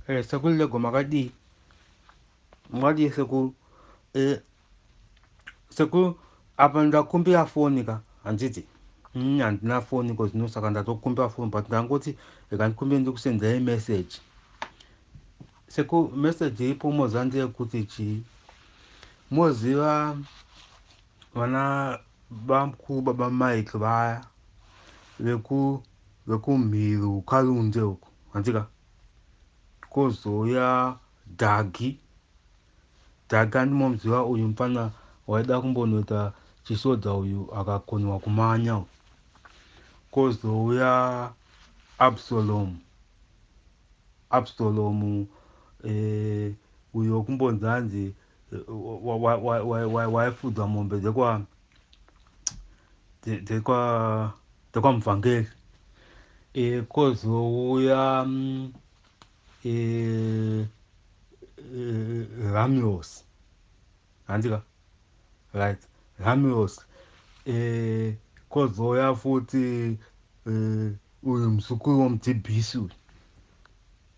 Eh, sekuru lego makadii makadii sekuru eh, sekuru apa ndakumbira foni ka handiti mm, handina foni ko zvino saka ndatokumbira foni but ndangoti ikandikumbira ndikusendai message seku message iripo moziva ndeyekuti chii moziva vana bamkuru baba mike vaya veku vekumhiri ukarunze uku hanzika kozouya dhagi dhagi andimomuziva uyu mfana waida kumbonoita chisoja uyu akakonewa kumanya uyu kozouya absalomu absalomu eh, uyo kumbonzi hanzi waifudzwa mombe dzekwa dzekwa dzekwa muvhangeri e, kozouya mm, e, e, ramios handika right ramios e, kozouya futi e, uyu muzukuru womudhibhisi uyu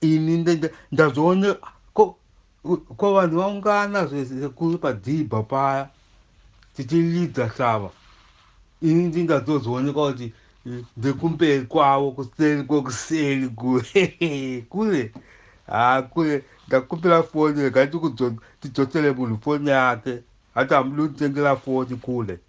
ini ndazoone ko ko vanhu vaungana zvekuru padhibha paya tichilidza shava ini ndingazozoonekwa kuti ndekumberi kwavo kuseri kwekuseri kure kure haa kure ndakupira foni rega tidzosere munhu foni yake hati hamudi kutengera foni kure